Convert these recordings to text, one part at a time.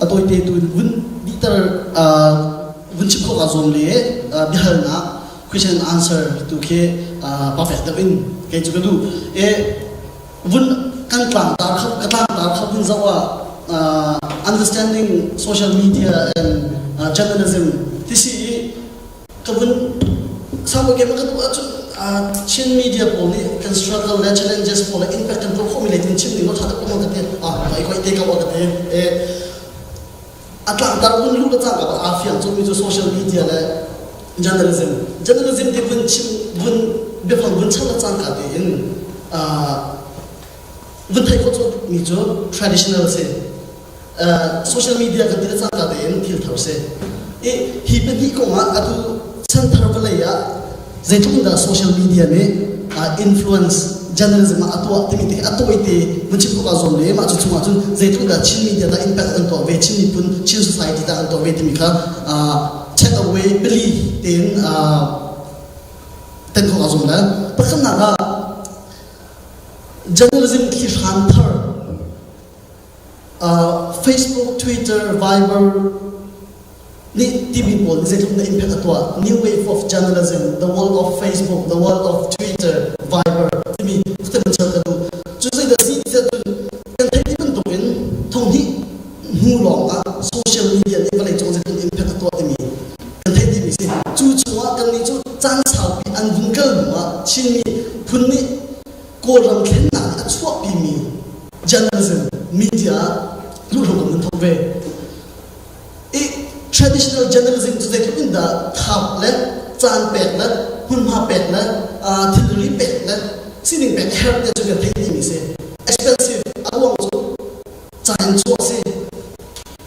a tawite tu in vun bihter vun chim khawh kaa zuam le biahalnak question and answer tu khi perfect deuh in kei cu ka duh e vun kan tlang tar kho ka tlang tar kho in zawa understanding social media and journalism tisi i ka vun samu game kan um ahcun Chin media pawl nih kan struggle le challenges pawl le impact kan tuah khawhmi le kan chim ding thata kuma ka ti ah ikoi te ka wa ka ti eh a tlangtar hun lu ka cang aa fiang cumi cu social media le journalism journalism ti vun chim vun biafang vun chan cang ka ti in vun thai ko mi cu traditional si social media kan ti le caan caan tein thil thar si i hi pahnih kong ah atu chanthar vawlei ah zeitluk in dah social media nih influence journalism ah a tuah timi te a tawi te mun chim ko zuam le mah cu chung ahcun zeitluk dah chin media dah impact an tuah ve chin miphun chin society dah an tuah ve timi kha check away pali tein ten ko zuam le pakhatnak ah journalism thli hran thar uh, Facebook, Twitter, Viber nih timi pawl zeitluk na impact a tuah new wave of journalism the world of Facebook the world of Twitter Viber timi kan chel ka duh cu zei da si ti kan theih bantuk in thong hi hnu lawng ah social media nih vale cung zeitluk impact a tuah timi kan theih timi si cu chungah kan nih cu caan saupi an vun kal hnu ah Chinmi phun nih Kawlram thlennak a chuahpimi journalism media ah luhlo kan thok ve. I traditional journalism cu zeitluk in dah thap le caan pek le hmunhma pek le thilri pek le sining pek a herh te cu kan theih dihmi si. Expensive a ruang cu ca in chuah si.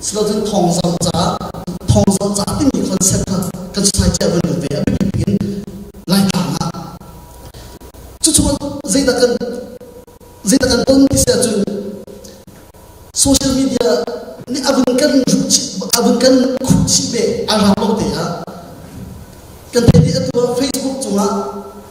Sifacun thawngzamh ca, thawngzamh ca timi concept kha kan society ah kan lut ve a biapit in Laitlang ah. Cucu zeidah kan zeidah kan ton ti si ahcun social media nih abun kan ruh chih abun kan khuh chih ve a rang lo te ah kan theih atu ah Facebook cungah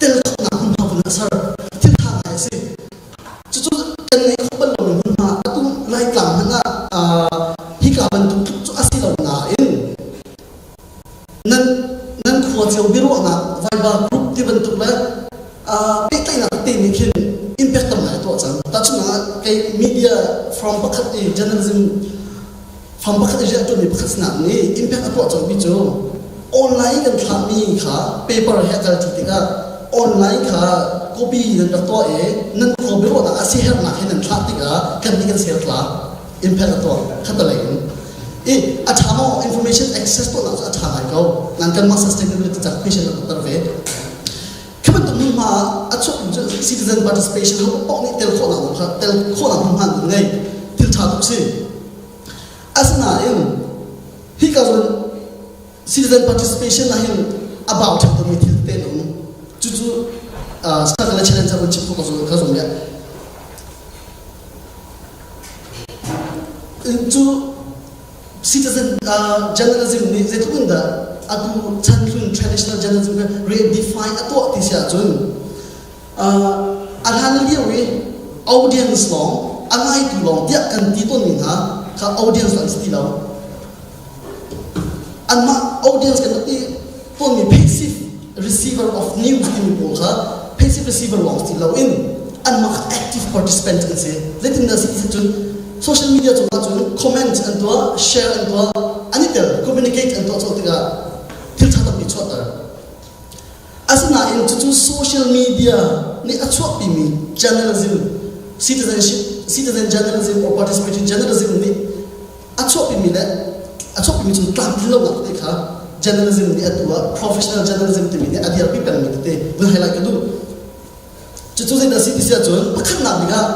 telkhawhnak hmunhma pun a ser thiltha ngai a si cucu kan ngeih kho bal lomi hmunhma a tum laitlang hmanh ah hika bantuk tluk cu a si lo nain nan nan khua cio biaruahnak vaiva group ti bantuk le pehtlaihnak te nih khin impact tam ngai a tuah cang tahchunhnak ah kei media from pakhat i journalism Fam pakhat i rian ṭuanmi pakhat sinah nih impact a tuah cangmi cu online in an thlahmi kha paper he a kalṭi tikah online kha copy in an rak tuah i nan khua biaruahnak a siaherhnak hin an thlah tikah kan nih kan sertlang impact a tuah khatalei in i a ṭha maw information access tuahnak cu a ṭha ngai ko nan kanmah sustainability cak patient an fatter ve khi bantuk hmunhma ah a chuaktu cu citizen participation ho paoh nih tel khawhnak kha tel khawhnak hmunhma an ngei thil ṭha tuk si Asinain hika zong citizen participation ah hin a bau ṭhepdomi thil tein um. Cucu Circle le Challenge ah chim ka zong ka zong ya. Cu citizen journalism nih zeitluk in dah atu chan hlun traditional journalism re-define a tuah ti si ahcun a hlan lio i audience lawng a ngaitu lawng tiah kan ti tawnmi hna kha audience an si ti lo anmah audience kan i tawnmi passive receiver of news timi pawl kha passive receiver lawng si loin anmah kha active participant an si zeitindah si cun social media cungah cun comment an tuah share an tuah an i tel communicate an tuah co tikah thil ṭha tampi chuahter Asinain cucu social media nih a chuahpimi journalism, citizenship, citizen journalism or participatory journalism nih a chuahpimi le a chuahpimi cun tlamtlinlonak te kha journalism nih a tu ah professional journalism timi nih a dirpi pengmi tete vun highlight ka duh. Cucu zeidah a si ti si ahcun pakhatnak bik ah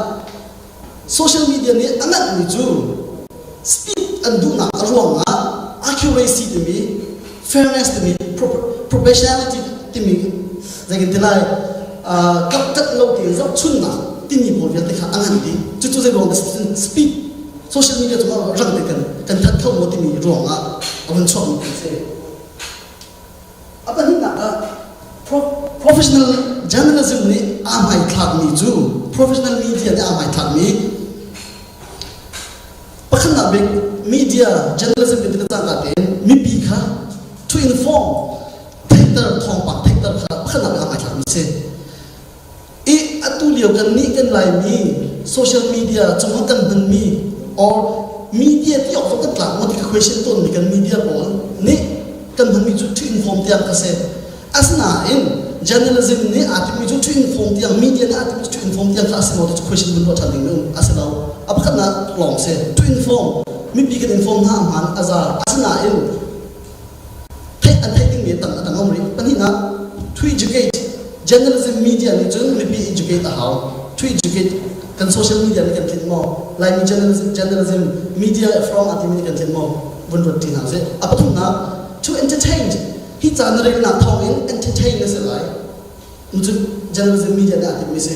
Social media nih a langhmi cu speed an duhnak a ruangah accuracy timi fairness timi professionality timi zeikin ti lai kaptat lo tein zohchunnak timi pawl vialte kha a ngan dih cucu zei ruang speed social media cungah rang te kan that kho maw timi ruangah a vun chuakmi kan si A pahnihnak ah professional journalism nih aa hmaithlakmi cu professional media nih aa hmaithlakmi pakhatnak bik media journalism biapi na tangka tein mipi kha to inform theihter thawngpang theihter kha pakhatnak aa hmaithlakmi a si i atu lio kan nih kan laimi social media cung ah kan hmanmi or media ti awk kan tlak maw ti ka question tawnmi kan media pawl nih kan hmanmi cu ṭhing form tiang a si asinain journalism nih aa timmi cu ṭhing form tiang media nih aa timmi cu ṭhing form tiang kha a si maw ti cu question kan ruah ṭhan ding um a si lo a pakhatnak lawng si ṭhing form mipi kan inform hna a hmaan a za asinain Theih a theih dingmi tam a tam a um rih. Pahnihnak, to educate. Journalism media nih cun mipi educate a hau. To educate kan social media nih kan tlinh maw? Laimi journalism, journalism media from a timi nih kan tlinh maw? Vun ruat ṭi hna sih. A pathumnak, to entertain. Hi caan na relnak thawng in entertain na si lai. Nucun journalism media nih a timmi si.